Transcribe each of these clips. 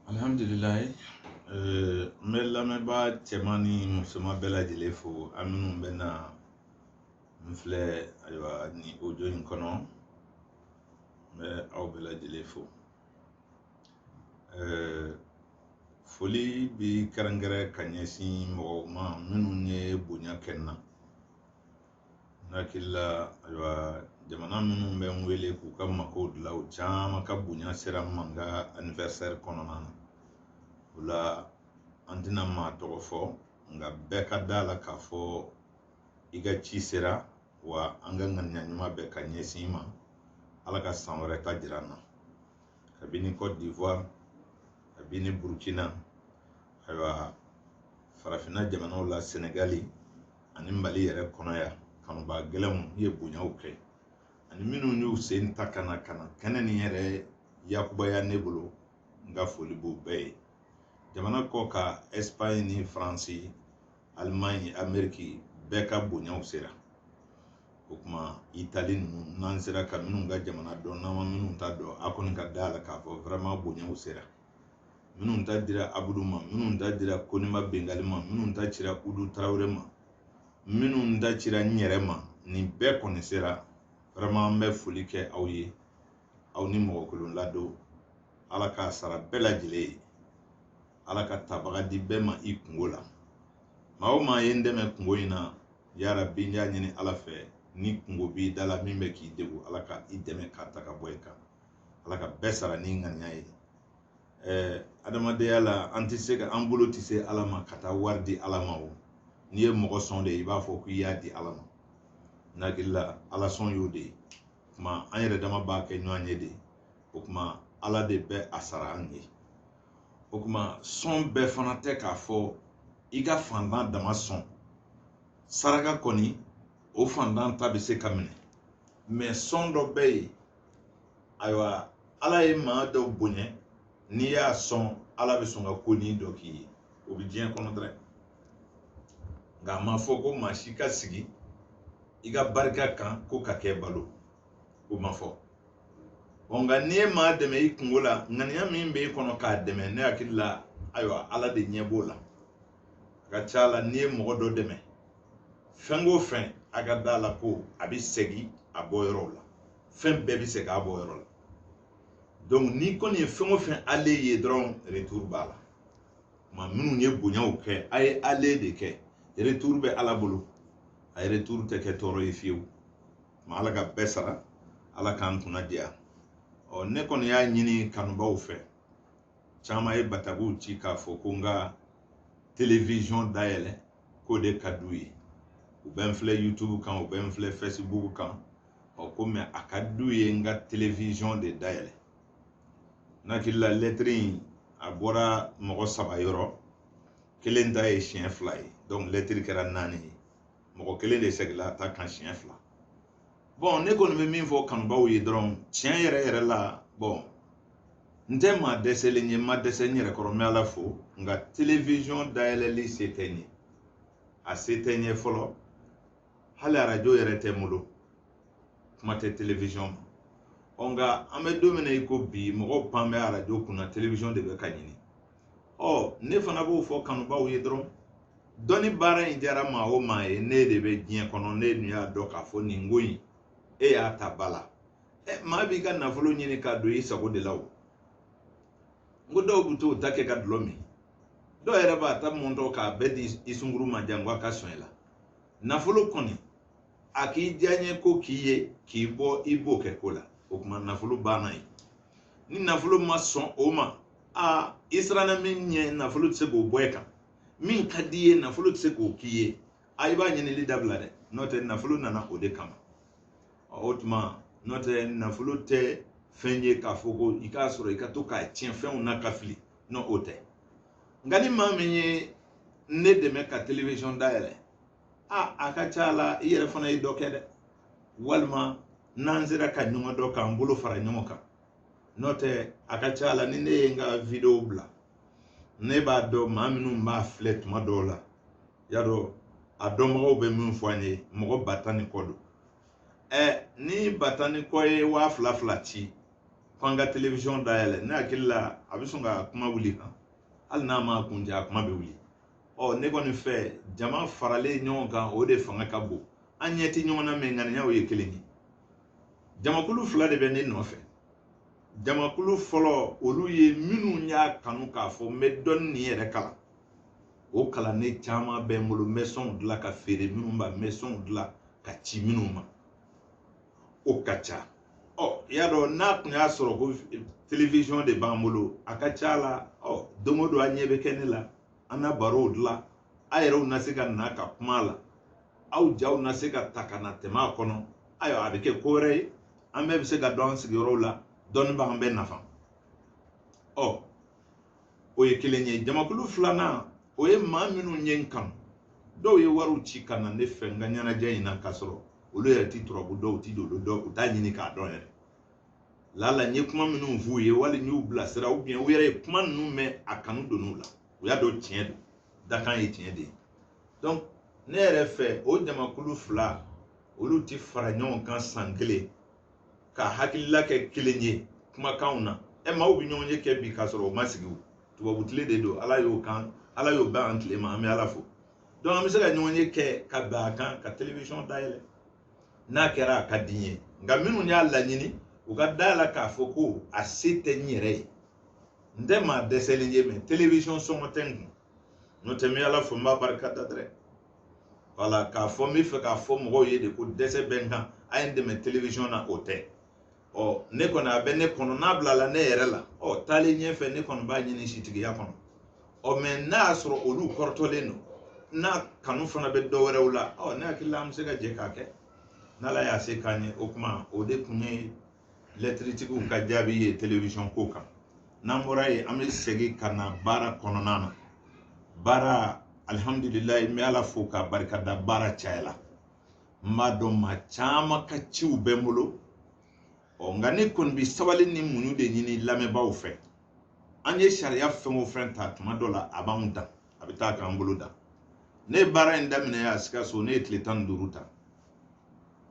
alihamdulilayi eh, n bɛ lamɛnbaa cɛman ni musoman bɛɛ lajɛlen fo a minnu bɛ na n filɛ ayiwa nin ojo in kɔnɔ n bɛ aw bɛɛ lajɛlen fo eh, foli bi kɛrɛnkɛrɛn ka ɲɛsin mɔgɔw ma minnu ye bonya kɛ n na n hakili la ayiwa jamana minnu bɛ n wele k'u ka makow dilan u caman ka bonya sera n ma n ka anniversaire kɔnɔna na o la an tɛna maa tɔgɔ fɔ nka bɛɛ ka d'a la k'a fɔ i ka ci sera wa an ka ŋaniya ɲuman bɛ ka ɲɛsin i ma ala ka san wɛrɛ ta jira n na kabini cote d'ivoire kabini burkina ayiwa farafinna jamanaw la senegali ani mali yɛrɛ kɔnɔ yan kanubaa gɛlɛnw ye bonyaw kɛ ani minnu y'u sen ta ka na ka na kɛnɛ nin yɛrɛ yakubaya ne bolo n ka foli b'u bɛɛ ye jamana kɔkan ɛsipaɲi ni faransi alimaɲi ameriki bɛɛ ka bonyaw sera o kuma itali ninnu n'an sera ka minnu ka jamana dɔn n'an ma minnu ta dɔn a kɔni ka da la k'a fɔ vraiment bonyaw sera minnu ta dira abudu ma minnu ta dira konima bengali ma minnu ta cira udu tarawele ma minnu ta cira n yɛrɛ ma nin bɛɛ kɔni sera vraiment an bɛ foli kɛ aw ye aw ni mɔgɔ kolon ladon ala k'a sara bɛɛ lajɛlen ye ala ka tabaga di bɛɛ ma i kungo la maa o maa ye n dɛmɛ kungo in na ya rabi n y'a ɲini ala fɛ ni kungo b'i da la min bɛ k'i degun ala ka i dɛmɛ k'a ta ka bɔ i kan ala ka bɛɛ sara ni ŋaniya ye ɛɛ adamadenya la an tɛ se ka an bolo tɛ se ala ma ka taa wari di ala ma o n'i ye mɔgɔ sɔn de i b'a fɔ k'i y'a di ala ma n hakili la ala sɔn y'o de ye o kuma an yɛrɛ dama b'a kɛ ɲɔgɔn ye de o kuma ala de bɛ a sara an ye o kuma sɔn bɛɛ fana tɛ k'a fɔ i ka fantan dama sɔn saraka kɔni o fantan ta bɛ se ka minɛ mais sɔn dɔ bɛ yen ayiwa ala ye maa dɔ bonya n'i y'a sɔn ala bɛ sɔn ka konin dɔ k'i ye o bɛ diɲɛ kɔnɔ dɛrɛ nka a ma fɔ ko maa si ka sigi i ka barika kan k'o ka kɛ balo o ma fɔ ɔ nka n'i ye maa dɛmɛ i kungo la ŋaniya min bɛ i kɔnɔ k'a dɛmɛ ne hakili la ayiwa ala de ɲɛ b'o la a ka ca la n'i ye mɔgɔ dɔ dɛmɛ fɛn o fɛn a ka da la ko a bɛ segin a bɔ yɔrɔw la fɛn bɛɛ bɛ segin a bɔ yɔrɔ la donc n'i kɔni ye fɛn o fɛn ale ye dɔrɔn retour b'a la maa minnu ye bonyaw kɛ a ye ale de kɛ retour bɛ ala bolo a ye retour tɛ kɛ tɔɔrɔ ye fiyewu ma ala ka bɛɛ sara ala k'an kunna diya ɔ ne kɔni y'a ɲini kanubaw fɛ caman ye batakiw ci k'a fɔ ko n ka televiziyɔn dayɛlɛ k'o de ka d'u ye u bɛ n filɛ youtube kan u bɛ n filɛ facebook kan ɔ ko mɛ a ka d'u ye n ka televiziyɔn de dayɛlɛ n hakili la lɛtiri in a bɔra mɔgɔ saba yɔrɔ kelen ta ye siɲɛ fila ye donc lɛtiri kɛra naani ye mɔgɔ kelen de segila a ta kan siɲɛ fila bɔn ne kɔni bɛ min fɔ kanubaw ye dɔrɔn tiɲɛ yɛrɛ yɛrɛ la bɔn n tɛ maa dɛsɛlen ye n ma dɛsɛ n yɛrɛ kɔrɔ n bɛ ala fo nka televiziyɔn dayɛlɛli se tɛ n ye a se tɛ n ye fɔlɔ hali arajo yɛrɛ tɛ n bolo kuma tɛ televiziyɔn ma ɔ nka an bɛ don min na i ko bi mɔgɔw pan bɛ arajo kunna televiziyɔn de bɛ ka ɲini ɔ ne fana b'o fɔ kanubaw ye dɔrɔn dɔnni baara in diyara maa o maa ye n'e de bɛ diɲɛ kɔnɔ n'e dun y'a dɔn k'a fɔ nin ko in e y'a ta ba la maa b'i ka nafolo ɲini k'a don i sago de la o n ko dɔw bɛ t'o ta kɛ ka dulɔ min dɔw yɛrɛ b'a ta mɔntɔ k'a bɛɛ di i sunguru ma jango a ka sɔn i la nafolo kɔni a k'i diyaɲe ko k'i ye k'i bɔ i b'o kɛ ko la o tuma nafolo banna ye ni nafolo ma sɔn o ma a i siranna min ɲɛ nafolo tɛ se k'o bɔ i kan min ka di i ye nafolo tɛ se k'o k'i ye a i b'a ɲinili dabila dɛ n'o tɛ nafolo nana o de kama o tuma n'o tɛ nafolo tɛ fɛn ye k'a fɔ ko i k'a sɔrɔ i ka to k'a tiɲɛ fɛnw na ka fili non o tɛ nka ni maa min ye ne dɛmɛ ka television dayɛlɛ a a ka ca a la i yɛrɛ fana ye dɔ kɛ dɛ walima n'an sera ka ɲɔgɔn dɔn k'an bolo fara ɲɔgɔn kan n'o tɛ a ka ca a la ni ne ye n ka video bila ne b'a dɔn maa minnu b'a filɛ tuma dɔw la y'a dɔn a dɔnbagaw bɛ min fɔ an ye mɔgɔ ba tan ni kɔ don ɛ ni ba tan ni kɔ ye waa fila fila ci ko an ka televiziyɔn dayɛlɛ ne hakili la a bɛ sɔn ka kuma wuli kan hali n'a ma kuncɛ a kuma bɛ wuli ɔ ne kɔni fɛ jama faralen ɲɔgɔn kan o de fanga ka bon an ɲɛ tɛ ɲɔgɔn na mɛ ŋaniyaw ye kelen ye jamakulu fila de bɛ ne nɔfɛ jamakulu fɔlɔ olu ye minnu y'a kanu k'a fɔ n bɛ dɔnni nin yɛrɛ kalan o kalanden caman bɛ n bolo n bɛ sɔnw dilan ka feere minnu ma n bɛ sɔnw dilan ka ci minnu ma o ka ca ɔ i y'a dɔn n'a tun y'a sɔrɔ ko télévision de b'an bolo a ka ca la ɔ don o don a ɲɛ bɛ kɛ ne la an na barow dilan a yɛrɛw na se ka na ka kuma a la aw jaw na se ka ta ka na tɛmɛ a kɔnɔ ayiwa a bɛ kɛ ko wɛrɛ ye an bɛɛ bɛ se ka dɔn an sigiyɔrɔw la dɔnni b'an bɛɛ nafa ɔ o ye kelen ye jamakulu filanan o ye maa minnu ye n kanu dɔw ye wariw ci ka na ne fɛ n ka ɲɛnajɛ in na k'a sɔrɔ olu yɛrɛ ti turabu dɔn u ti dolo dɔn u t'a ɲini k'a dɔn yɛrɛ lala n ye kuma minnu f'u ye wali n y'u bilasira u bi ɲɛ u yɛrɛ ye kuma ninnu mɛn a kanu donn'u la u y'a dɔn tiɲɛ don dakan ye tiɲɛ de ye donc ne yɛrɛ fɛ o jamakulu fila olu ti fara ɲɔgɔn kan san kelen ka hakilila kɛ kelen ye kumakanw na ɛ maaw bɛ ɲɔgɔnye kɛ bi k'a sɔrɔ o ma sigi o tubabu tile de don ala y'o kan ala y'o bɛn an tile ma an bɛ ala fo donc an bɛ se ka ɲɔgɔnye kɛ ka bɛn a kan ka télévision dayɛlɛ n'a kɛra a ka di n ye nka minnu y'a laɲini u ka da a la k'a fɔ ko a se tɛ n yɛrɛ ye n tɛ maa dɛsɛlen ye mɛ télévision sɔngɔ tɛ n kun n'o tɛ n bɛ ala fo n b'a barika da dɛrɛ wala k'a fɔ n bɛ fɛ k'a fɔ mɔgɔw ye de ko dɛsɛ bɛ n kan a ye n dɛmɛ télévision na o tɛ ɔ ne kɔni a bɛ ne kɔnɔ n'a bilala ne yɛrɛ la ɔ taalen ɲɛfɛ ne kɔni b'a ɲini setigiya kɔnɔ ɔ mɛ n'a y'a sɔrɔ olu kɔrɔtɔlen don n'a kanu fana bɛ dɔ wɛrɛw la ɔ ne hakili la an bɛ se ka jɛ k'a kɛ n'ala y'a se k'an ye o kuma o de tun ye lɛtiritigiw ka jaabi ye télévision ko kan n'an bɔra yen an bɛ segin ka na baara kɔnɔna na baara alihamdulilayi n bɛ ala fo k'a barika da baara cayala n b'a dɔn maa caman ka ciw bɛ n bolo ɔ nka ne kɔni bɛ sabali ni muɲu de ɲini lamɛnbaaw fɛ an ye sariya fɛn o fɛn ta tuma dɔ la a b'anw dan a bɛ taa k'an bolo dan ne ye baara in daminɛ yan sikaso ne ye tile tan ni duuru ta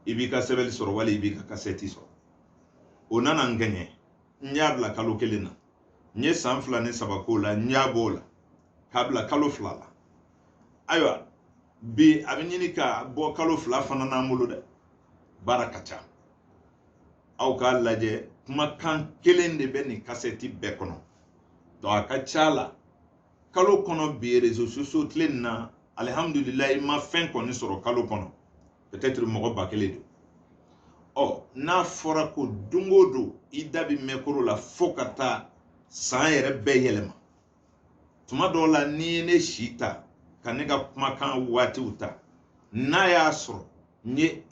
i b'i ka sɛbɛnni sɔrɔ wali i b'i ka kasɛti sɔrɔ o nana n kɛɲɛ n y'a bila kalo kelen na n ye san fila ni saba k'o la n y'a b'o la k'a bila kalo fila la ayiwa bi a bɛ ɲini ka bɔ kalo fila fana n'an bolo dɛ baara ka ca aw k'a lajɛ kumakan kelen de bɛ nin kasɛti bɛɛ kɔnɔ donc a ka ca la kalo kɔnɔ bi réseaux sociaux tile nin na alihamudulilayi ma fɛn kɔni sɔrɔ kalo kɔnɔ peut-être mɔgɔ ba kelen don ɔ n'a fɔra ko don o don i da bi mikoro la fo ka taa san yɛrɛ bɛɛ yɛlɛma tuma dɔw la n'i ye ne si ta ka ne ka kumakan waatiw ta n'a y'a sɔrɔ n ye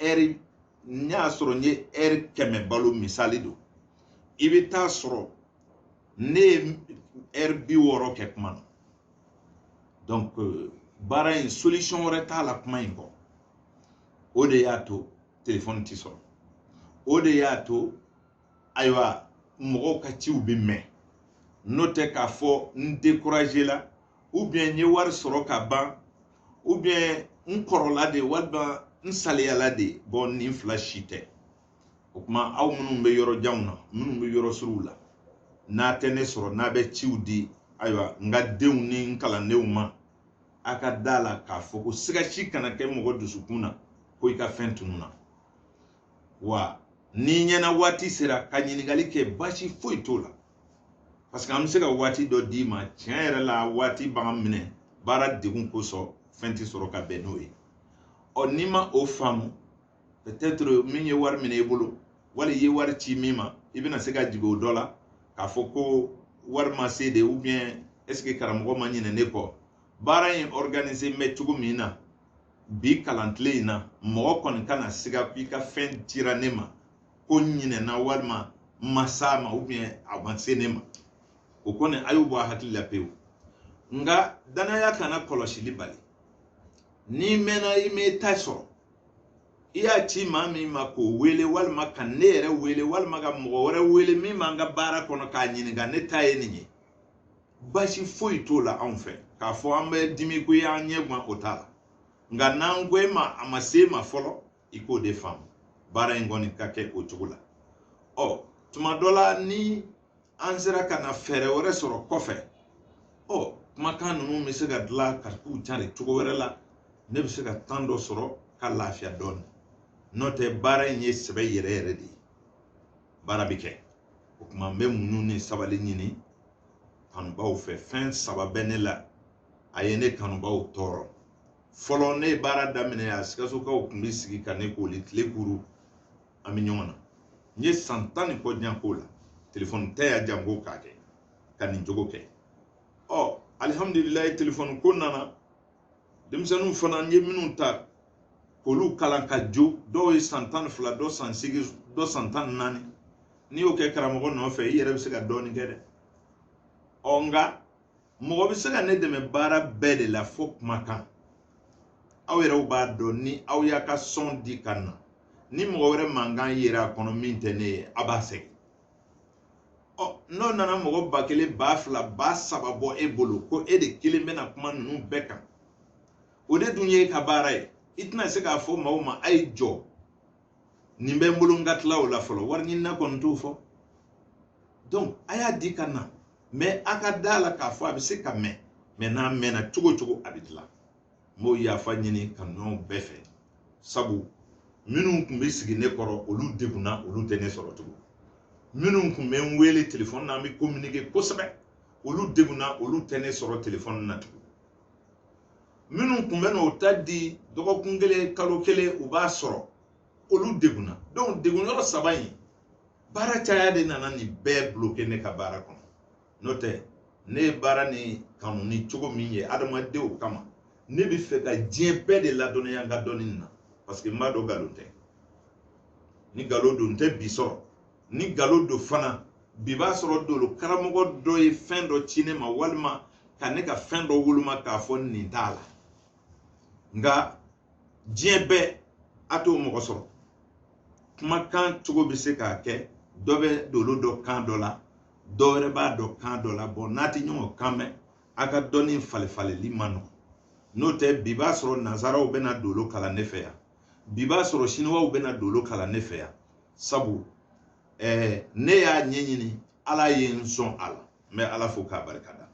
ɛri kɛmɛ balo misali don i bɛ t'a sɔrɔ ne ye ɛri bi wɔɔrɔ kɛ kuma na donc euh, baara in solution wɛrɛ t'a la kuma in kɔ o de y'a to telefɔni ti sɔrɔ o de y'a to ayiwa mɔgɔw ka ciw bɛ mɛn n'o tɛ k'a fɔ n découragé la ou bien n ye wari sɔrɔ ka ban ou bien n kɔrɔla de walima n saliyala de bon nin fila si tɛ o kuma aw minnu bɛ yɔrɔ janw na minnu bɛ yɔrɔ suruw la n'a tɛ ne sɔrɔ n'a bɛ ciw di ayiwa n ka denw ni n kalandenw ma a ka da la k'a fɔ ko siga si kana kɛ mɔgɔ dusukun na ko i ka fɛn tununa wa n'i ɲɛ na waati sera ka ɲininkali kɛ baasi foyi t'o la parce que an bɛ se ka waati dɔ d'i ma tiɲɛ yɛrɛ la waati b'an minɛ baara degun kosɔn fɛn tɛ sɔrɔ ka bɛn n'o ye ɔ n'i ma o faamu peut-être min ye wari minɛ i bolo wali i ye wari ci min ma i bɛna se ka jigi o dɔ la k'a fɔ ko wari ma se de ou bien est-ce que karamɔgɔ ma ɲinɛ ne kɔ baara in organiser mɛ cogo min na bi kalantile in na mɔgɔ kɔni kana siga ko i ka fɛn cira ne ma ko n ɲinɛna walima n ma s'a ma ou bien a ma se ne ma o kɔni a y'o bɔ a hakili la pewu nka danaya kana kɔlɔsili bali n'i mɛnna i m'i ta sɔrɔ i y'a ci maa min ma k'o wele walima ka ne yɛrɛ wele walima ka mɔgɔ wɛrɛ wele min b'an ka baara kɔnɔ k'a ɲininka ne ta ye nin ye basi foyi t'o la anw fɛ k'a fɔ an bɛ dimi ko y'an ɲɛ gan o t'a la nka n'an ko e ma a ma se e ma fɔlɔ i k'o de faamu baara in kɔni ka kɛ o cogo la ɔ tuma dɔ la ni an sera ka na fɛɛrɛ wɛrɛ sɔrɔ kɔfɛ ɔ kumakan ninnu bɛ se ka dilan ka k'u cari cogo wɛrɛ la ne bɛ se ka temps dɔ sɔrɔ ka lafiya dɔɔnin n'o tɛ baara in ye sɛbɛ yɛrɛ yɛrɛ de ye baara bɛ kɛ o kuma n bɛ muɲu ni sabali ɲini kanubaaw fɛ fɛn saba bɛ ne la a ye ne kanubaaw tɔɔrɔ fɔlɔ ne ye baara daminɛ a sikasokaw tun bɛ sigi ka ne koli tile kuru an bɛ ɲɔgɔn na n ye san tan ni kɔ jan k'o la telefɔni tɛ yan janko k'a kɛ ka nin cogo kɛ ɔ alihamudulilayi telefɔni ko nana denmisɛnninw fana n ye minnu ta k'olu kalan ka jo dɔw ye san tan ni fila dɔ san seegin dɔ san tan ni naani n'i y'o kɛ karamɔgɔ nɔfɛ i yɛrɛ bɛ se ka dɔɔnin kɛ dɛ ɔ nka mɔgɔ bɛ se ka ne dɛmɛ baara bɛɛ de la fo kumakan aw yɛrɛw b'a dɔn ni aw y'a ka sɔn di ka na ni mɔgɔ wɛrɛ mankan yera a kɔnɔ min tɛ ne ye a b'a sɛgɛn ɔ n'o nana mɔgɔ ba kelen ba fila ba saba bɔ e bolo ko e de kelen bɛna kuma ninnu bɛɛ kan o de dun ye e ka baara ye i tɛna se k'a fɔ maaw ma a ye jɔ nin bɛ n bolo n ka tila o la fɔlɔ wari ɲinina kɔni t'o fɔ donc a y'a di ka na mais a ka da la k'a fɔ a bɛ se ka mɛn mais n'a mɛnna cogo cogo a bɛ dilan n b'o yafa ɲini kanuɲɔgɔnw bɛɛ fɛ sabu minnu tun bɛ sigi ne kɔrɔ olu degunna olu tɛ ne sɔrɔ tugun minnu tun bɛ n wele telefɔni na an bɛ kominike kosɛbɛ olu degunna olu tɛ ne sɔrɔ telefɔni na tugun minnu tun bɛ n'o ta di dɔgɔkun kelen kalo kelen u b'a sɔrɔ olu degunna donc degun yɔrɔ saba in baara caya de nana nin bɛɛ bloke ne ka baara kɔnɔ n'o tɛ ne ye baara nin kanu ni cogo min ye adamadenw kama ne bɛ fɛ ka diɲɛ bɛɛ de ladɔnniya n ka dɔnni na parce que n b'a dɔn nkalon tɛ ni nkalon don n tɛ bi sɔrɔ ni nkalon don fana bi b'a sɔrɔ dolo karamɔgɔ dɔ ye fɛn dɔ ci ne ma walima ka ne ka fɛn dɔ woloma k'a fɔ nin t'a la nka diɲɛ bɛɛ a t'o mɔgɔ sɔrɔ kumakan cogo bɛ se k'a kɛ dɔ bɛ dolo dɔn kan dɔ la dɔ wɛrɛ b'a dɔn kan dɔ la bon n'a tɛ ɲɔgɔn kan mɛn a ka dɔnni falenfalenni man nɔgɔn n'o tɛ bi b'a sɔrɔ nanzaraw bɛna dolo kalan ne fɛ yan bi b'a sɔrɔ siniwaw bɛna dolo kalan ne fɛ yan sabu ɛɛ ne y'a ɲɛɲini ala ye n sɔn a la n bɛ ala fo k'a barika da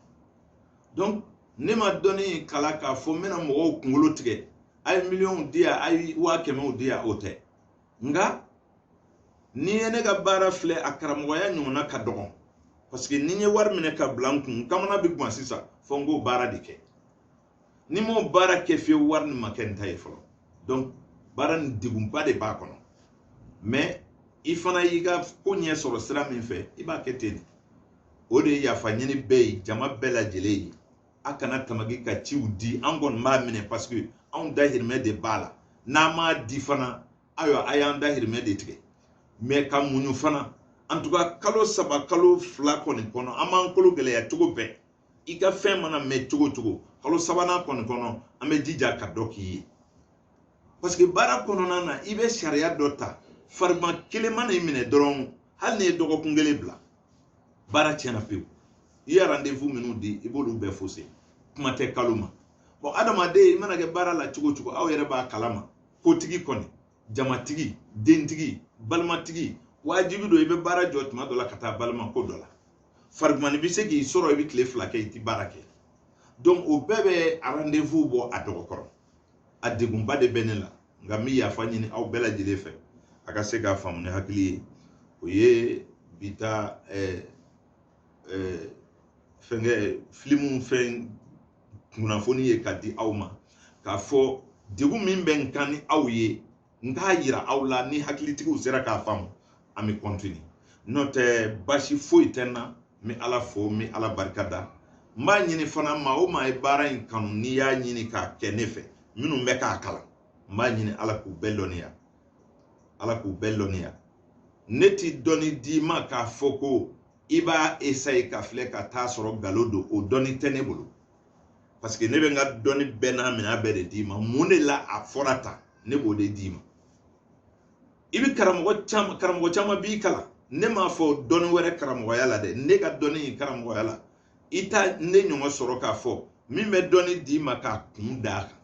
donc ne ma dɔnni kalan k'a fɔ n bɛna mɔgɔw kunkolo tigɛ a ye miliyɔnw di yan a ye waa kɛmɛw di yan o tɛ nka n'i ye ne ka baara filɛ a karamɔgɔya ɲɔgɔnna ka dɔgɔn parce que ni n ye wari minɛ ka bila n kun n kamana bɛ gan sisan fo n k'o baara de kɛ ni n m'o baara kɛ fiyewu wari nin ma kɛ n ta ye fɔlɔ donc baara nin degunba de b'a kɔnɔ mais i fana y'i ka ko ɲɛ sɔrɔ sira min fɛ i b'a kɛ ten o de ye yafa ɲini bɛɛ ye jama bɛɛ lajɛlen ye a kana tamaki ka ciw di an kɔni b'a minɛ parce que anw dahirimɛ de b'a la n'a m'a di fana ayiwa a y'an dahirimɛ de tigɛ mais ka muɲu fana en tout cas kalo saba kalo fila kɔni kɔnɔ an b'an kolo gɛlɛya cogo bɛɛ i ka fɛn mana mɛn cogo cogo kalo sabanan kɔni kɔnɔ an bɛ jija ka dɔ k'i ye parce que baara kɔnɔna na i bɛ sariya dɔ ta farigan kelen mana i minɛ dɔrɔn hali n'i ye dɔgɔkun kelen bila baara tiɲɛna pewu i ye rendez-vous minnu di i b'olu bɛɛ fose kuma tɛ kalo ma bon adamaden i mana kɛ baara la cogo cogo aw yɛrɛ b'a kalama kotigi kɔni jamatigi dentigi balimatigi wajibi don i bɛ baara jɔ tuma dɔ la ka taa balima ko dɔ la farigumani bɛ se k'i sɔrɔ i bɛ tile fila kɛ i tɛ baara kɛ donc o bɛɛ bɛ rendez-vous bɔ a dɔgɔ kɔrɔ a degunba de bɛ ne la nka n bɛ yafa ɲini aw bɛɛ lajɛlen fɛ a ka se k'a faamu ni hakili ye o ye bi ta ɛɛ ɛɛ fɛnkɛ filimu fɛn kunnafoni ye ka di aw ma k'a fɔ degun min bɛ n kan ni aw ye n k'a yira aw la ni hakilitigiw sera k'a faamu an bɛ kɔntini n'o tɛ basi foyi tɛ n na n bɛ ala fo n bɛ ala barika da n b'a ɲini fana maa o maa ye baara in kanu n'i y'a ɲini k'a kɛ ne fɛ minnu bɛ k'a kalan n b'a ɲini ala k'u bɛɛ lɔnniya ala k'u bɛɛ lɔnniya ne ti dɔnni d'i ma k'a fɔ ko i b'a esaye ka filɛ ka t'a sɔrɔ nkalon don o dɔnni tɛ ne bolo paseke ne bɛ n ka dɔnni bɛɛ n'a minɛn bɛɛ de d'i ma mun de la a fɔra tan ne b'o de d'i ma i bɛ karamɔgɔ caman karamɔgɔ caman b'i kalan ne m'a fɔ dɔnni wɛrɛ karamɔgɔya la dɛ ne ka dɔnni in karamɔgɔya la i tɛ ne ɲɔgɔn sɔrɔ k'a fɔ min bɛ dɔnni d'i ma k'a kun d'a kan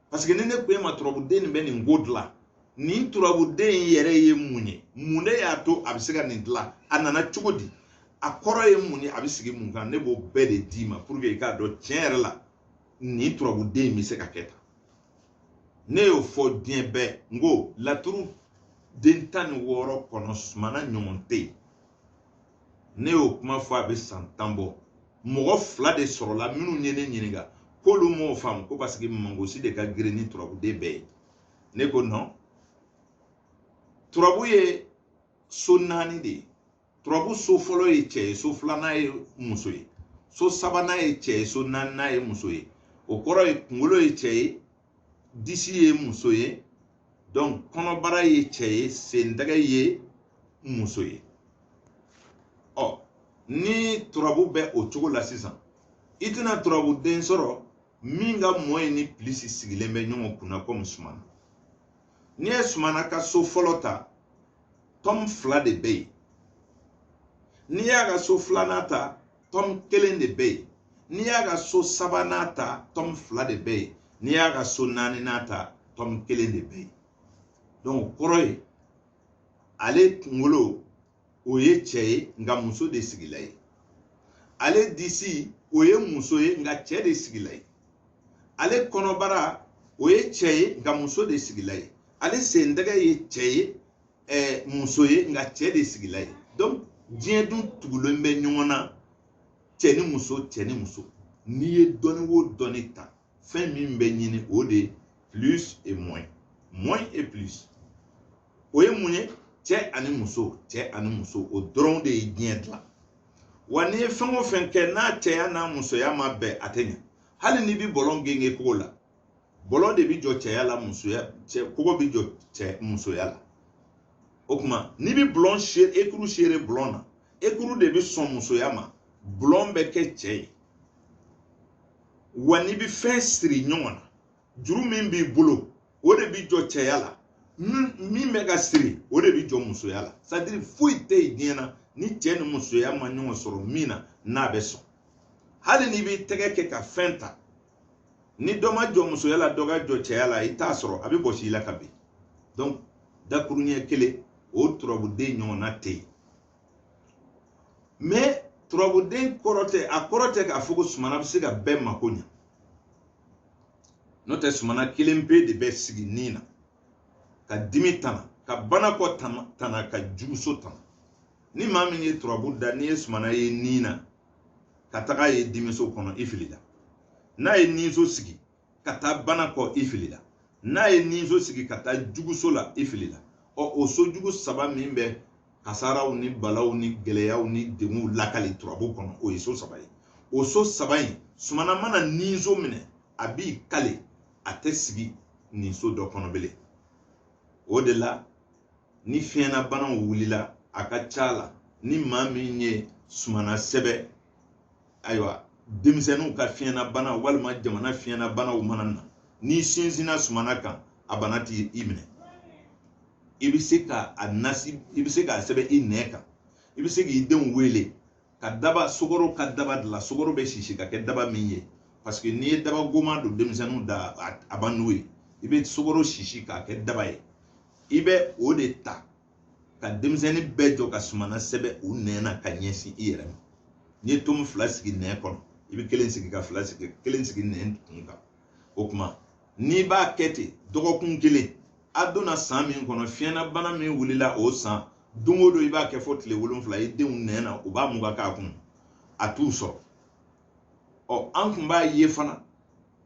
paseke ni ne ko e ma turabuden nin bɛ nin ko dilan nin turabuden in yɛrɛ ye mun ye mun de y'a to a bɛ se ka nin dilan a nana cogo di a kɔrɔ ye mun ye a bɛ sigi mun kan ne b'o bɛɛ de d'i ma puruke i k'a dɔn tiɲɛ yɛrɛ la nin turabuden in bɛ se ka kɛ tan ne y'o fɔ diɲɛ bɛɛ n ko laturu den tan ni wɔɔrɔ kɔnɔ sumana ɲɔgɔn tɛ yen ne y'o kuma fɔ a bɛ san tan bɔ mɔgɔ fila de sɔrɔla minnu ye ne ɲininka k'olu m'o faamu ko paseke mangosi de ka girin ni turabuden bɛɛ ye ne ko nɔn turabu ye so naani de ye turabu so fɔlɔ ye cɛ ye so filanan ye muso ye so sabanan ye cɛ ye so naaninan ye muso ye o kɔrɔ ye kunkolo ye cɛ ye disi ye muso ye donc kɔnɔbara ye cɛ ye sentɛgɛ ye muso ye ɔ ni turabu bɛ o cogo la sisan i tɛna turabu den sɔrɔ min ka moins ni pilisi sigilen bɛ ɲɔgɔn kunna komi sumana n'i ye sumana ka so fɔlɔ ta tɔm fila de bɛ yen n'i y'a ka so filanan ta tɔm kelen de bɛ yen n'i y'a ka so sabanan ta tɔm fila de bɛ yen n'i y'a ka so naaninan ta tɔm kelen de bɛ yen donc o kɔrɔ ye ale kunkolo o ye cɛ ye nka muso de sigila yen ale disi o ye muso ye nka cɛ de sigila yen ale kɔnɔbara o ye cɛ ye nka muso de sigila yen ale sentɛgɛ ye cɛ ye eh, muso ye nka cɛ de sigila yen donc diɲɛ dun tugulen bɛ ɲɔgɔn na cɛ ni muso cɛ ni muso n'i ye dɔnni o dɔnni ta fɛn min bɛ ɲini o de ye plus et moins moins et plus o ye mun ye cɛ ani muso cɛ ani muso o dɔrɔn de ye diɲɛ dilan wa n'i ye fɛn o fɛn kɛ n'a cɛya n'a musoya ma bɛn a tɛ ɲɛ hali n'i bɛ bɔlɔ gengen kogo la bɔlɔ de bi jɔ cɛya la musoya cɛ kogo bi jɔ cɛ musoya la o kuma n'i bi bulɔn sere ekuru sere bulɔn na ekuru de bi sɔn musoya ma bulɔn bɛ kɛ cɛ ye wa n'i bi fɛn siri ɲɔgɔn na juru min b'i bolo o de bi jɔ cɛya la min bɛ ka siri o de bi jɔ musoya la c'est à dire foyi tɛ yen diɲɛ na ni cɛ ni musoya ma ɲɔgɔn sɔrɔ min na n'a bɛ sɔn hali n'i b'i tɛgɛ kɛ ka fɛn ta ni dɔ ma jɔ musoya la dɔ ka jɔ cɛya la i t'a sɔrɔ a bɛ bɔsi i la ka bin donc dakuruɲɛ kelen o turabuden ɲɔgɔnna tɛ yen mais turabuden kɔrɔ tɛ a kɔrɔ tɛ k'a fɔ ko sumana bɛ se ka bɛɛ mako ɲɛ n'o tɛ sumana kelenpe de bɛ sigi nin na ka dimi tana ka banakɔ tana ka juguso tana ni maa min ye turabu da n'i ye sumana ye nin na ka taga a ye dimiso kɔnɔ i filila n'a ye ninso sigi ka taa bana kɔ i filila n'a ye ninso sigi ka taa juguso la i filila ɔ o so jugu saba min bɛ kasaraw ni balaw ni gɛlɛyaw ni degunw lakali turabu kɔnɔ o ye so saba ye o so saba in sumana mana ninso minɛ a b'i kale a tɛ sigi nin so dɔ kɔnɔ bilen o de la ni fiɲɛnabanaw wulila a ka ca la ni maa min ye sumana sɛbɛn ayiwa denmisɛnninw ka fiɲɛnabana walima jamana fiɲɛnabanaw mana na n'i sinsinna sumana kan a bana t'i minɛ i bɛ se ka a nasi i bɛ se k'a sɛbɛn i nɛn kan i bɛ se k'i denw wele ka daba sukaro ka daba dilan sukaro bɛ sisi ka kɛ daba min ye parce que n'i ye daba goma don denmisɛnninw da a ban n'o ye i bɛ sukaro sisi k'a kɛ daba ye i bɛ o de ta ka denmisɛnnin bɛɛ jɔ ka sumana sɛbɛn u nɛn na ka ɲɛsin i yɛrɛ ma n'i ye tomu fila sigi nɛn kɔnɔ i bɛ kelen sigi ka fila sigi kelen sigi nɛn kun kan o tuma n'i b'a kɛ ten dɔgɔkun kelen a donna san min kɔnɔ fiɲɛnabana min wulila o san don o don i b'a kɛ fo tile wolonfila i denw nɛn na u b'a mugan k'a kunu a t'u sɔrɔ ɔ an kun b'a ye fana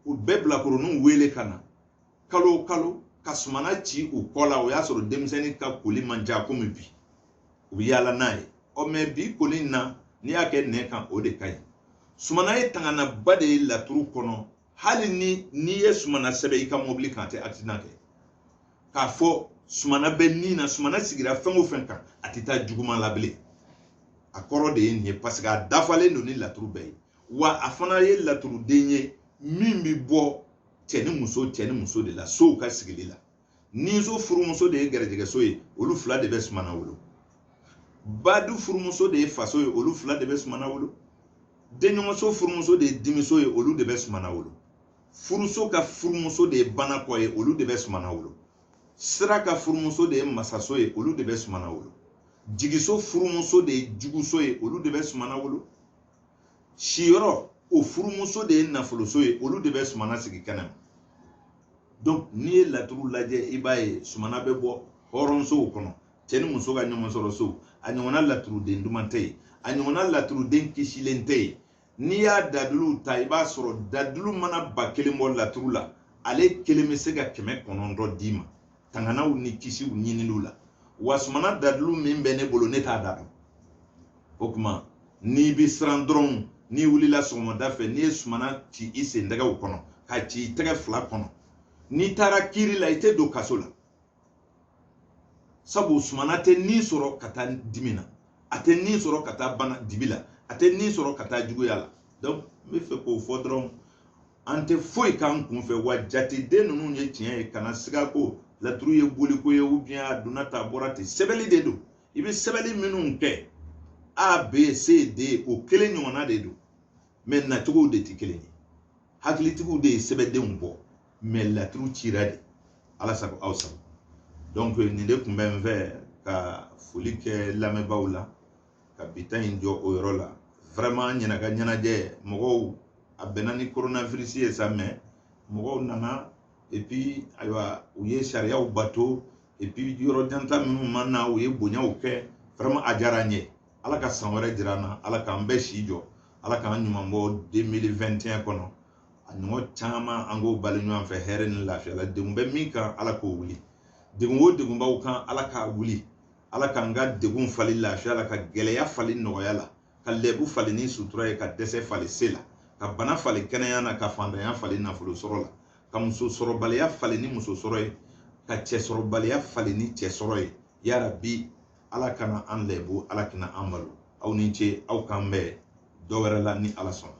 u bɛ bilakoroninw wele ka na kalo o kalo ka sumana ci u kɔ la o y'a sɔrɔ denmisɛnnin ka koli man ca komi bi u bɛ yaala n'a ye ɔ mais bi koli in na n'i y'a kɛ nɛn kan o de ka ɲi sumana ye tanganaba de ye laturu kɔnɔ hali n'i ye sumana sɛbɛn i ka mɔbili kan a tɛ accident kɛ k'a fɔ sumana bɛ nin na sumana sigira fɛn o fɛn kan a tɛ taa juguman la bilen a kɔrɔ de ye nin ye parce que a dafalen don ni laturu bɛɛ ye wa a fana ye laturuden ye min bɛ bɔ cɛ ni muso cɛ ni muso de la sow ka sigili la niso furumuso de ye gɛrɛjɛgɛso ye olu fila de bɛ sumana wolo badu furumuso de ye faso ye olu fila de bɛ sumana wolo denɲɔgɔnso furumuso de ye dimiso ye olu de bɛ sumana wolo furuso ka furumuso de ye banakɔ ye olu de bɛ sumana wolo sira ka furumuso de ye masaso ye olu de bɛ sumana wolo jigiso furumuso de ye juguso ye olu de bɛ sumana wolo siyɔrɔ o furumuso de ye nafoloso ye olu de bɛ sumana sigi kɛnɛ ma donc n'i ye laturu lajɛ i b'a ye sumana bɛ bɔ hɔrɔnsow kɔnɔ cɛ ni muso ka ɲɔgɔn sɔrɔ so a ɲɔgɔnna laturuden duman tɛ yen a ɲɔgɔnna laturuden kisilen tɛ yen n'i y'a daduluw ta i b'a sɔrɔ dadulu mana ba kelen bɔ laturu la ale kelen bɛ se ka kɛmɛ kɔnɔntɔn d'i ma tanganaw ni kisiw ɲininiw la wa sumana dalilu min bɛ ne bolo ne t'a da dɔn o tuma n'i bɛ siran dɔrɔn n'i wulila sɔgɔmada fɛ n'i ye sumana ci i sentɛgɛw kɔnɔ k'a ci i tɛgɛ fila kɔnɔ n'i taara kiiri la i tɛ don kaso la sabu sumana tɛ ni sɔrɔ ka taa dimi na a tɛ ni sɔrɔ ka taa bana dibi la a tɛ ni sɔrɔ ka taa juguya la donc n bɛ fɛ k'o fɔ dɔrɔn an tɛ foyi k'an kun fɛ wa jateden ninnu ye tiɲɛ ye kana siga ko laturu ye boliko ye ou bien a donna tan a bɔra ten sɛbɛnni de don i bɛ sɛbɛnni minnu kɛ a b c d o kelen ɲɔgɔnna de don mais nacogow de tɛ kelen ye hakilitigiw de ye sɛbɛndenw bɔ mais laturu cira de ala sago aw sago donc nin de tun bɛ n fɛ ka foli kɛ lamɛnbaaw la ka bi ta in jɔ o yɔrɔ la vraiment an ɲinan ka ɲɛnajɛ mɔgɔw a bɛnna ni coronavirus ye sa mais mɔgɔw nana et puis ayiwa u ye sariyaw bato et puis yɔrɔ janta minnu ma na u ye bonyaw kɛ vraiment a diyara an ye ala ka san wɛrɛ jira an na ala k'an bɛɛ si jɔ ala k'an ɲuman bɔ 2021 kɔnɔ a ɲɔgɔn caman an k'o balo ɲɔgɔn fɛ hɛrɛ ni lafiya la degun bɛ min kan ala k'o wuli degun o degun b'aw kan ala k'a wuli ala k'an ka degun falen lafiya la ka gɛlɛya falen nɔgɔya la ka lɛbu falen ni sutura ye ka dɛsɛ falen se la ka bana falen kɛnɛya na ka fantanya falen nafolo sɔrɔ la ka muso sɔrɔbaliya falen ni muso sɔrɔ ye ka cɛ sɔrɔbaliya falen ni cɛ sɔrɔ ye yarabi ala kana an lɛbu ala kana an malo aw ni ce aw k'an bɛn dɔ wɛrɛ la ni ala sɔnna